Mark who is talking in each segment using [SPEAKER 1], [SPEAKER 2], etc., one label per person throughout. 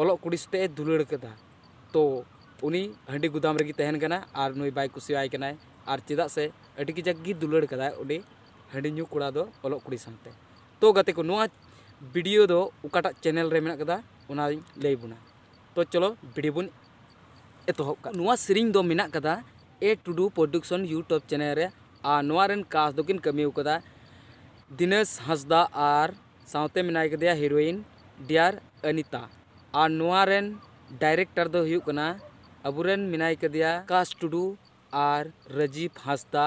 [SPEAKER 1] ᱚᱞᱚᱜ ᱠᱩᱲᱤ ᱥᱟᱛᱮᱜ ᱮ ᱫᱩᱞᱟᱹᱲ ᱠᱟᱫᱟ ᱛᱚ ᱩᱱᱤ ᱦᱟᱺᱰᱤ ᱜᱩᱫᱟᱢ ᱨᱮᱜᱮ ᱛᱟᱦᱮᱱ ᱠᱟᱱᱟᱭ ᱟᱨ ᱱᱩᱭ ᱵᱟᱭ ᱠᱩᱥᱤᱭᱟᱭ ᱠᱟᱱᱟᱭ ᱟᱨ ᱪᱮᱫᱟᱜ ᱥᱮ ᱟᱹᱰᱤ ᱠᱟᱡᱟᱠ ᱜᱮ ᱫᱩᱞᱟᱹᱲ ᱠᱟᱫᱟᱭ ᱩᱱᱤ ᱦᱟᱺᱰᱤ ᱧᱩ ᱠᱚᱲᱟ ᱫᱚ ᱚᱞᱚᱜ ᱠᱩᱲᱤ ᱥᱟᱶᱛᱮ ᱛᱚ ᱜᱟᱛᱮ ᱠᱚ ᱱᱚᱣᱟ ᱵᱷᱤᱰᱤᱭᱳ ᱫᱚ ᱚᱠᱟᱴᱟᱜ ᱪᱮᱱᱮᱞ ᱨᱮ ᱢᱮᱱᱟᱜ ᱠᱟᱫᱟ ᱚᱱᱟᱧ ᱞᱟᱹᱭ ᱵᱚᱱᱟ ᱛᱚ ᱪᱚᱞᱚ ᱵᱷᱤᱰᱤᱭᱳ ᱵᱚᱱ ᱮᱛᱚᱦᱚᱵ ᱠᱟᱜ ᱱᱚᱣᱟ ᱥᱮᱨᱮᱧ ᱫᱚ ᱢᱮᱱᱟᱜ ᱠᱟᱫᱟ ᱮ ᱴᱩᱰᱩ ᱯᱨᱚᱰᱩᱠᱥᱚᱱ ᱤᱭᱩᱴᱩᱵᱽ ᱪᱮᱱᱮᱞ ᱨᱮ ᱟᱨ ᱱᱚᱣᱟ ᱨᱮᱱ ᱠᱟᱥ ᱫᱚᱠᱤᱱ ᱠᱟᱹᱢᱤ ᱠᱟᱫᱟ ᱫᱤᱱᱮᱥ ᱦᱟᱸᱥᱫᱟ ᱟᱨ ᱥᱟᱶᱛᱮ ᱢᱮᱱᱟᱭ ᱠᱟᱫᱮᱭᱟ ᱦᱤᱨᱳᱭᱤᱱ ᱰᱤᱭᱟᱨ ᱟᱱᱤᱛᱟ ᱟᱨ ᱱᱚᱣᱟ ᱨᱮᱱ ᱰᱟᱭᱨᱮᱠᱴᱚᱨ ᱫᱚ ᱦᱩᱭᱩᱜ ᱠᱟᱱᱟ ᱟᱵᱚ ᱨᱮᱱ ᱢᱮᱱᱟᱭ ᱠᱟᱫᱮᱭᱟ ᱟᱠᱟᱥ ᱴᱩᱰᱩ ᱟᱨ ᱨᱟᱡᱤᱵᱽ ᱦᱟᱸᱥᱫᱟ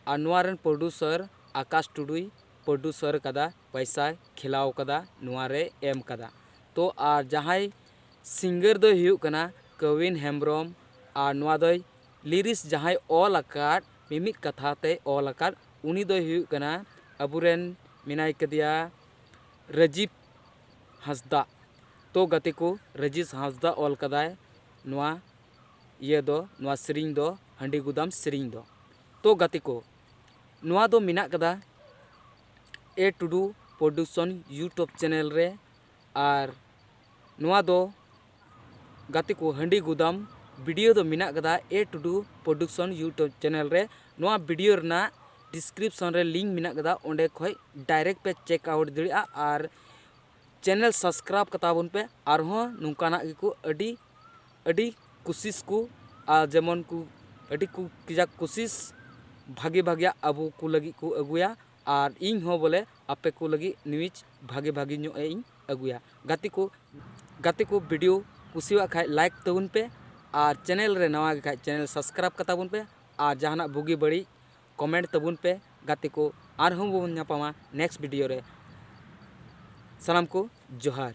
[SPEAKER 1] ᱟᱨ ᱱᱚᱣᱟ ᱨᱮᱱ ᱯᱨᱚᱰᱩᱥᱚᱨ ᱟᱠᱟᱥ ᱴᱩᱰᱩᱭ ᱯᱨᱚᱰᱩᱥᱚᱨ ᱠᱟᱫᱟ ᱯᱚᱭᱥᱟᱭ ᱠᱷᱮᱞᱟᱣ ᱠᱟᱫᱟ ᱱᱚᱣᱟ ᱨᱮᱭ ᱮᱢ ᱠᱟᱫᱟ ᱛᱚ ᱟᱨ ᱡᱟᱦᱟᱸᱭ ᱥᱤᱝᱜᱟᱨ ᱫᱚᱭ ᱦᱩᱭᱩᱜ ᱠᱟᱱᱟ ᱠᱟᱣᱤᱱ ᱦᱮᱢᱵᱽᱨᱚᱢ ᱟᱨ ᱱᱚᱣᱟ ᱫᱚᱭ ᱞᱤᱨᱤᱥ ᱡᱟᱦᱟᱸᱭ ᱚᱞ ᱟᱠᱟᱫ ᱢᱤᱢᱤᱫ ᱠᱟᱛᱷᱟ ᱛᱮᱭ ᱚᱞ ᱟᱠᱟᱫ ᱩᱱᱤ ᱫᱚᱭ ᱦᱩᱭᱩᱜ ᱠᱟᱱᱟ ᱟᱵᱚ ᱨᱮᱱ ᱢᱮᱱᱟᱭ ᱠᱟᱫᱮᱭᱟ ᱨᱟᱡᱤᱵᱽ ᱦᱟᱸᱥᱫᱟ ᱛᱚ ᱜᱟᱛᱮ ᱠᱚ ᱨᱟᱡᱤᱵᱽ ᱦᱟᱸᱥᱫᱟ ᱚᱞ ᱠᱟᱫᱟᱭ ᱱᱚᱣᱟ ᱤᱭᱟᱹ ᱫᱚ ᱱᱚᱣᱟ ᱥᱮᱨᱮᱧ ᱫᱚ ᱦᱟᱺᱰᱤ ᱜᱩᱫᱟᱢ ᱥᱮᱨᱮᱧ ᱫᱚ ᱛᱚ ᱜᱟᱛᱮ ᱠᱚ ᱱᱚᱣᱟ ᱫᱚ ᱢᱮᱱᱟᱜ ᱠᱟᱫᱟ ᱮ ᱴᱩᱰᱩ ᱯᱨᱚᱰᱩᱠᱥᱚᱱ ᱤᱭᱩᱴᱩᱵᱽ ᱪᱮᱱᱮᱞ ᱨᱮ ᱟᱨ ᱱᱚᱣᱟ ᱫᱚ ᱜᱟᱛᱮ ᱠᱚ ᱦᱟᱺᱰᱤ ᱜᱩᱫᱟᱢ ᱵᱷᱤᱰᱤᱭᱳ ᱫᱚ ᱢᱮᱱᱟᱜ ᱟᱠᱟᱫᱟ ᱮᱹ ᱴᱩᱰᱩ ᱯᱨᱚᱰᱩᱠᱥᱚᱱ ᱤᱭᱩᱴᱩᱵᱽ ᱪᱮᱱᱮᱞ ᱨᱮ ᱱᱚᱣᱟ ᱵᱷᱤᱰᱤᱭᱳ ᱨᱮᱱᱟᱜ ᱰᱤᱥᱠᱨᱤᱯᱥᱚᱱ ᱨᱮ ᱞᱤᱝᱠ ᱢᱮᱱᱟᱜ ᱟᱠᱟᱫᱟ ᱚᱸᱰᱮ ᱠᱷᱚᱱ ᱰᱟᱭᱨᱮᱠᱴ ᱯᱮ ᱪᱮᱠ ᱟᱣᱩᱴ ᱫᱟᱲᱮᱭᱟᱜᱼᱟ ᱟᱨ ᱪᱮᱱᱮᱞ ᱥᱟᱵᱽᱥᱠᱨᱟᱭᱤᱵᱽ ᱠᱟᱛᱟ ᱵᱚᱱ ᱯᱮ ᱟᱨ ᱦᱚᱸ ᱱᱚᱝᱠᱟᱱᱟᱜ ᱜᱮᱠᱚ ᱟᱹᱰᱤ ᱟᱹᱰᱤ ᱠᱩᱥᱤᱥ ᱠᱚ ᱟᱨ ᱡᱮᱢᱚᱱ ᱠᱚ ᱟᱹᱰᱤ ᱠᱚ ᱠᱟᱡᱟᱠ ᱠᱩᱥᱤᱥ ᱵᱷᱟᱹᱜᱤ ᱵᱷᱟᱹᱜᱤᱭᱟᱜ ᱟᱵᱚ ᱠᱚ ᱞᱟᱹᱜᱤᱫ ᱠᱚ ᱟᱹᱜᱩᱭᱟ ᱟᱨ ᱤᱧ ᱦᱚᱸ ᱵᱚᱞᱮ ᱟᱯᱮ ᱠᱚ ᱞᱟᱹᱜᱤᱫ ᱱᱤᱭᱩᱡᱽ ᱵᱷᱟᱹᱜᱤ ᱵᱷᱟᱹᱜᱤ ᱧᱚᱜ ᱤᱧ ᱟᱹᱜᱩᱭᱟ ᱜᱟᱛᱮ ᱠᱚ ᱜᱟᱛᱮ ᱠᱚ ᱵᱷᱤᱰᱤᱭᱳ ᱠᱩᱥᱤᱭᱟᱜ ᱠᱷᱟᱡ ᱞᱟᱭᱤᱠ ᱛᱟᱵᱚᱱ ᱯᱮ ᱟᱨ ᱪᱮᱱᱮᱞ ᱨᱮ ᱱᱟᱣᱟ ᱜᱮ ᱠᱷᱟᱡ ᱪᱮᱱᱮᱞ ᱥᱟᱵᱥᱠᱨᱟᱭᱤᱵᱽ ᱠᱟᱛᱟ ᱵᱚᱱ ᱯᱮ ᱟᱨ ᱡᱟᱦᱟᱱᱟᱜ ᱵᱩᱜᱤ ᱵᱟᱹᱲᱤᱡ ᱠᱚᱢᱮᱱᱴ ᱛᱟᱵᱚᱱ ᱯᱮ ᱜᱟᱛᱮ ᱠᱚ ᱟᱨ ᱦᱚᱸ ᱵᱚᱱ ᱧᱟᱯᱟᱢᱟ ᱱᱮᱠᱥᱴ ᱵᱷᱤᱰᱤᱭᱳ ᱨᱮ ᱥᱟᱱᱟᱢ ᱠᱚ ᱡᱚᱦᱟᱨ